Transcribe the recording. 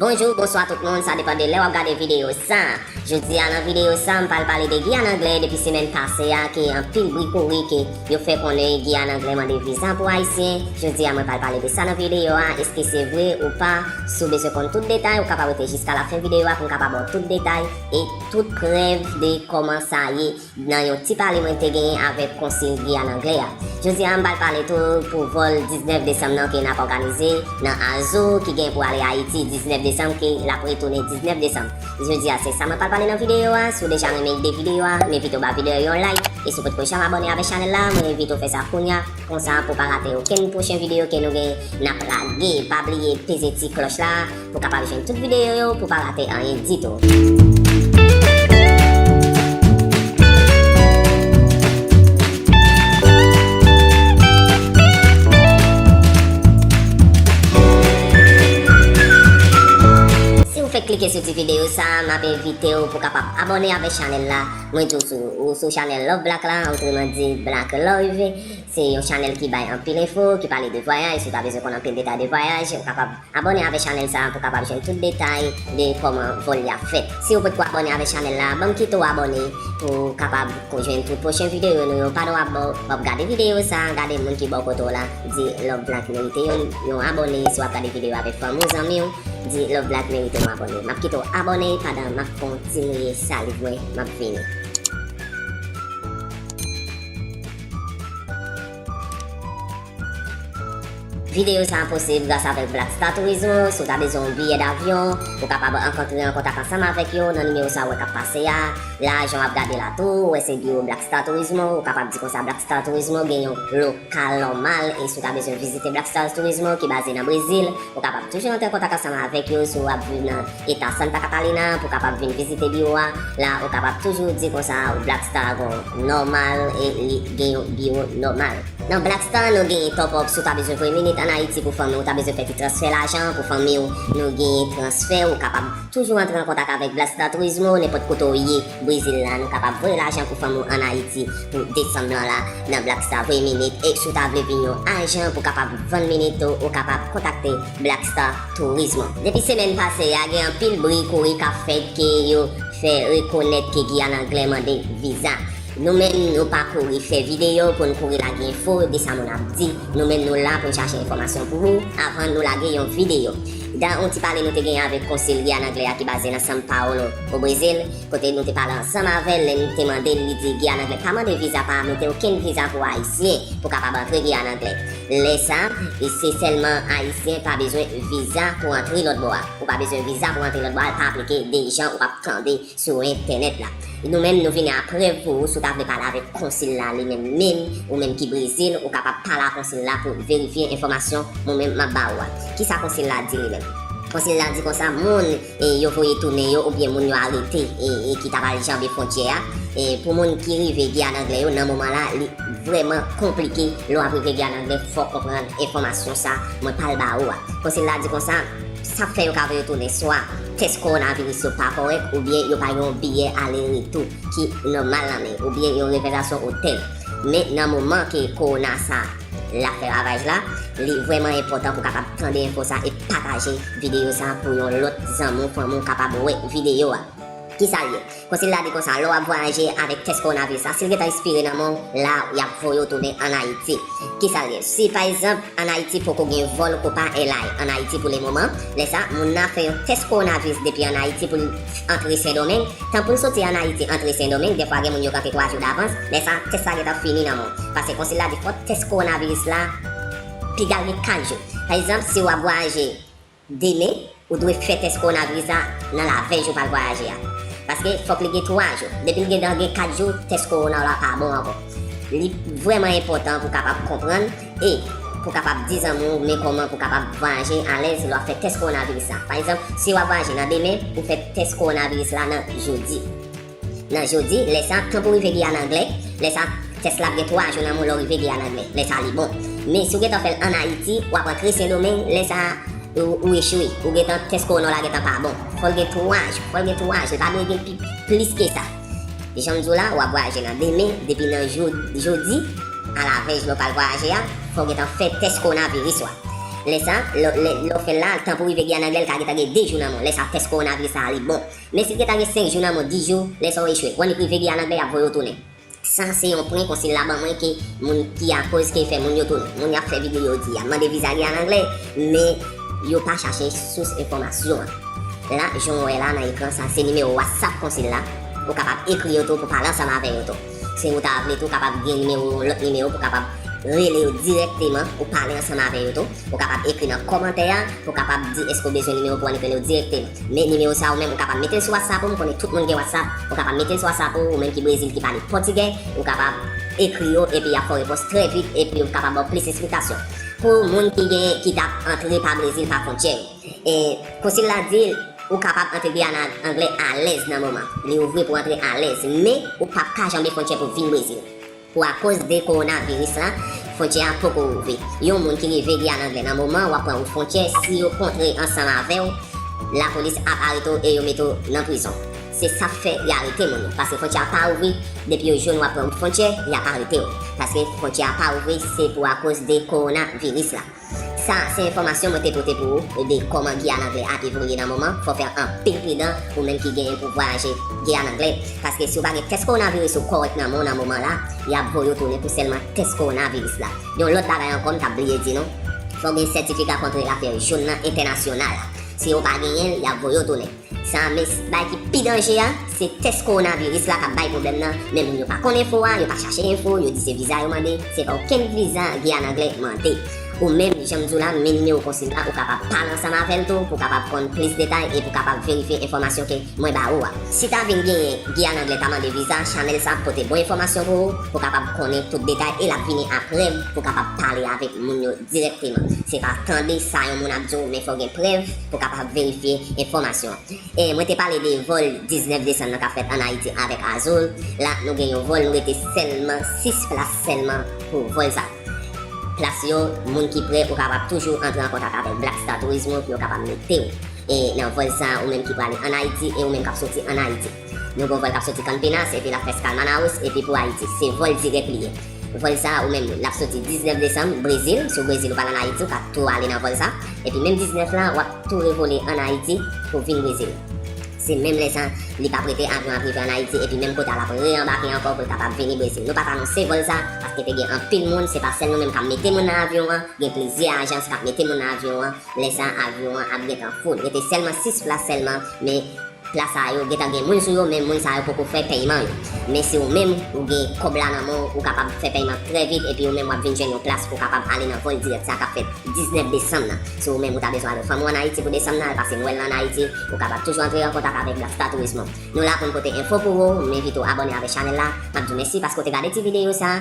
Bonjou, bonswa tout moun, sa depan de lè wap gade videyo sa. Jodi a nan videyo sa m pral pale de Giyàn Anglè depi semèn pase a ke anpil bri kouri ke yo fè konnen Giyàn Anglè mande viza pou ayisyen, jodi a mwen pral pale de sa nan videyo a, eske se vre ou pa, si w bezwen konn tout detay ou kapab rete jiska la fen videyo a pou m ka ba w tout detay e tout prèv de kòman sa ye. Nan yon ti pale mwen te genyen avèk konsil Giyàn Angle a. Jodi a m pral pale tou pou vòl 19 desanm nan ke n ap òganize nan Azo ki gen pou ale Ayiti 19 desanm ke l ap retounen 19 desanm. Jodi a se sa mwen pral pale nan videyo a. Si w deja renmen ide videyo a, m envite w ba videyo a yon like. E si w potko janm abòne avèk chanèl la, mwen envite w fè sa kounya, konsa pou w pa rate okenn pwochen videyo ke nou gen n ap lage. Pa bliye peze ti klòch la. Pou kapab jwenn tout videyo yo pou pa rate anyen ditou. Si ou fèk klike sou ti videyo sa a, map envite ou pou kapab abòne avèk chanèl la. Mwen tou sou ou sou chanèl Love Black la, otreman di Black Love. Se yon chanèl ki bay anpil enfo, ki pale de vwayaj, si ou ta bezwen konn anpil detay de vwayaj, ou kapab Abòne avè chanèl sa pou kapab jwenn tout detay de kòman vòl li ap fèt. Siw potko abòne avè chanèl la banm kite w abòne pou kapab ko jwenn tout pwochen videyo nou yo pandan wap baw wap gade videyo sa gade moun ki bò kote w la di love black merite yon yon abòne si wap gade videyo avèk fanmi w zanmi w di love black merite yon abòne map kite w abòne pandan map kontinye saliv mwen map vini. Videyo sa a posib gras avèk Black Star Turismo, si w ta bezwen yon biyè davyon, ou kapab ank antre an kontak ansanm avèk yo nan nimewo sa a ou wè k ap pase a, la a jan w ap gade la tou, ou wè se biwo Black Star Turismo, ou kapab di konsa Black Star Turismo gen yon lokal nòmal e si w ta bezwen vizite Black Star Turismo ki baze nan Brezil, ou kapab toujou antre an kontak ansanm avèk yo si w ap viv nan. e pèsòn pa ka pale nan an pou kapab vin vizite biwo a la ou kapab toujou di konsa ou Black Star gon nòmal e li gen yon biwo nòmal. Nan Black Star nou genyen top up si w ta bezwen voye minit an Ayiti pou fanmi w ta bezwen fè ti transfè lajan pou fanmi w nou genyen transfè ou kapab toujou antre an kontak avèk Black Star Turismo nenpòt kote w ye Brezil la nou kapab voye lajan pou fanmi w an Ayiti pou desanm lan la nan Black Star voye minit e si w ta vle vin yon ajan pou kapab vann minit tou ou kapab kontakte Black Star Turismo. Depi semèn pase a gen anpil bri kouri kap fèt ke yo fè rekonèt ke Giyàn Anglè mande viza. Nou menm nou pa kouri fè videyo pou n kouri lage enfo de sa moun ap di. Nou menm nou la pou n chache enfòmasyon pou ou avan nou lage yon videyo. Dan yon ti pale nou te genyen avèk konsil Giyàn Anglè a ki baze nan São Paulo, o Brezil, kote nou te pale ansanm avè l lè n te mande l li di Giyàn Anglè pa mande viza pa mete okenn viza pou Ayisyen pou kapab antre Giyàn Anglè. Lè sa, e se sèlman Ayisyen pa bezwen viza pou antre lòt bò a. Ou pa bezwen viza pou antre lòt bò a, al pa aplike de jan ou pap tande sou entènèt la. Nou menm nou vini a prèv pou ou si w ta vle pale avèk konsil la li menm menm, ou menm ki Brezil, ou kapab pale a konsil la pou verifye enfòmasyon mou menm map ba ou a. Kisa konsil la di li menm? Konsil la di konsa moun e yo voye tounen yo oubyen moun yo arete e ki ta pral janbe fwontyè a e pou moun ki rive Giyàn Anglè yo nan moman la li vrèman konplike lè w ap rive Giyàn Anglè fò w konprann enfòmasyon sa mwen pral ba ou a Konsil la di konsa sa k fè yo ka voye w tounen swa tès kowonaviris yo pa kòrèk oubyen yo pa gen yon biyè ale retou ki nòmal nan men yo oubyen yon rezèvasyon otèl men nan moman ke kowona sa. Lap fè ravaj la, li vrèman enpòtan pou kapab tande enfo sa e pataje videyo sa pou yon lòt zanmi w fanmi w kapab wè videyo a. Kisa l ye? Konsil la di konsa lè w ap vwayaje avèk tès kowonaviris la si l gentan espire nan men w la y ap voye w tounen an Ayiti. Kisa l ye? Si pa egzanp an Ayiti poko gen vòl Copa Airline an Ayiti pou le moman, lè sa moun nan ap fè yon tès kowonaviris depi an Ayiti pou l Antre sendomeng, tan poun soti an ayiti antre sendomeng dèfwa gen moun yo kanpe 3 jou davans, lè sa tès la gentan fini nan menw, pase konsil la di fò tès kowonaviris la pigal gen 4 jou, pa egzanp siw ap vwayaje demen ou dwe fè tès kowonaviris la nan laveyn jou pral vwayaje a, paske fòk li gen 3 jou, depil gentan gen 4 jou tès kowonaw la pa bon ankò, li vrèman enpòtan pou kapab konprann. E. Pou kapab di zanmi w men kòman pou kapab vwayaje alèz lè w ap fè tès kowonaviris la. Pa egzanp, si w ap vwayaje nan demen, ou fè tès kowonaviris la nan jodi. Nan jodi, lè sa, tan pou rive Giyàn Angle, lè sa, tès la ap gen 3 jou nan men w lè w rive Giyàn Angle. Lè sa li bon. Men, si w gentan fè l ann Ayiti, w ap antre Sendomeng, lè sa, ou echwe. Ou gentan, tès kowona w la gentan pa bon. Fò l gen 3 jou. Fò l gen 3 jou. Li pa dwe gen plis ke sa. Janm diw la wap vwayaje nan demen depi nan jodi a la vèy jou pral vwayaje a fòw gentan fè tès kowona viris wa lè sa lèw fèl la tan pou rive guyane anglè lka gentan gen 2 jou nan menw lè sa tès kowona viris sa li bon men sil gentan gen 5 jou nan menw 10 jou lè sa ou echwe wan li rive guyane anglè yap voyew tounen sa se yon pwen konsil la ban mwen ke moun ki akoz ke fè moun yo tounen moun yap fè vide yo di yap mande viza guyane anglè men. Yo pa chache sous enfòmasyon an. La jan w wè la nan ekran sa se nimewo whatsapp konsil la, ou kapab ekri yo tou pou pale ansanm avè yo tou. Si ou ta vle tou kapab gen nimewo lòt nimewo pou kapab rele yo dirèkteman ou pale ansanm avè yo tou. Ou kapab ekri nan kòmantè a pou kapab di èske ou bezwen nimewo pou annik rele yo dirèkteman. Men nimewo sa ou menm ou kapab mete l sou whatsapp ou m konnen tout moun gen whatsapp ou kapab mete l sou whatsapp ou, ou menm ki brezil ki pale pòtigè ou kapab ekri yo epi y ap fè w repons trè vit epi yo kapab ba w plis esplikasyon. Pou moun ki gen ki tap antre pa Brezil pa fontyè yo. E konsil la di ou kapab antre Guyana ak anglè alèz nan moman. Li ouvri pou antre alèz. Men ou pap ka janbe fontyè pou vin Brezil. Pou akoz de kowona viris la, fontyè a poko ouvri. Yon moun ki rive Guyana anglè nan moman wap pran wout fontyè si yo kontre ansanm avèw lapolis ap arete w e yo mete w nan prizon. Se sap fè ya arete moun yo paske fontyè a pa ouvri depi yo jwenn wap pran wout fontyè yap aretew paske fontyè a pa ouvri se pou akoz de korona viris la sa se enfòmasyon mwen te pote pou ou de kòman Guyane anglè a evolye nan moman fò fè anpil pridan ou menm ki genyen pou vwayaje Guyane anglè paske si ou pa gen tès korona viris ou kòrèk nan men w nan moman la yap voye w tounen pou sèlman tès korona viris la yon lòt bagay ankò m tap bliye di nou fò w gen sètifika kontre afè w jòn nan entènasyonal si ou pa genyen l yap voye w tounen. Sa a mes bay ki pi danje a se tès kowonaviris la kap bay pwoblèm nan men moun yo pa konn enfo a yo pa chache enfo yo di se viza yo mande se pa okenn viza Guyane anglè mande ou menm janm di w la men nimewo konsil la ou kapab pale ansanm avèl tou pou kapab konn plis detay e pou kapab verifye enfòmasyon ke mwen ba ou a si ta vin genyen Guyane anglè ta mande viza chanèl sa ap pote bon enfòmasyon pou ou pou kapab konnen tout detay e lap vini a prèv pou kapab pale avèk moun yo dirèkteman se pa tande sa yon moun ap di w men fò gen prèv pou kapab verifye enfòmasyon an. E mwen te pale de vòl 19 desann nan kap fèt an Ayiti avèk Azul, la nou gen yon vòl nou rete sèlman 6 plas sèlman pou vòl sa. Plas yo moun ki prè ou kapab toujou antre an kontak avèk Black Star Turismo pou yo kapab mete w e nan vòl sa ou menm ki prale an Ayiti e ou menm kap soti an Ayiti. Yon gwo vòl kap soti Campinas epi lap fè skal Manaus epi pou Ayiti. Se vòl dirèk li ye. Vòl sa ou menm lap soti 19 desanm Brezil, si w Brezil ou pral an Ayiti ou ka tou ale nan vòl sa, epi menm 19 la wap tou revole an Ayiti pou vin Brezil. Se menm lè sa li pap rete avyon ap rive an Ayiti epi menm kouta lap re anbake ankò pou l kapab vini Brezil. Nou pat anonse vòl sa paske te gen anpil moun, se pa sèl nou menm kap mete moun nan avyon an, gen plizyè ajans kap mete moun nan avyon an. Lè sa avyon an ap gentan full. Rete sèlman 6 plas sèlman men plas sa yo gentan gen moun sou yo men moun sa yo poko fè pèyman yo. Men si ou menm ou gen kòb la nan men w ou kapab fè pèyman trè vit epi ou menm wap vin jwenn yon plas ou kapab ale nan vòl dirèk sa kap fèt 19 desanm nan. Si ou menm ou ta bezwen ale fanmi w an Ayiti pou desanm nan al pase nwèl lan an Ayiti ou kapab toujou antre an kontak avèk Black Star Tourismo. Nou la pou n pote enfo pou ou, m envite w abòne avè chanèl la. Map di w mèsi paske w te gade ti videyo sa.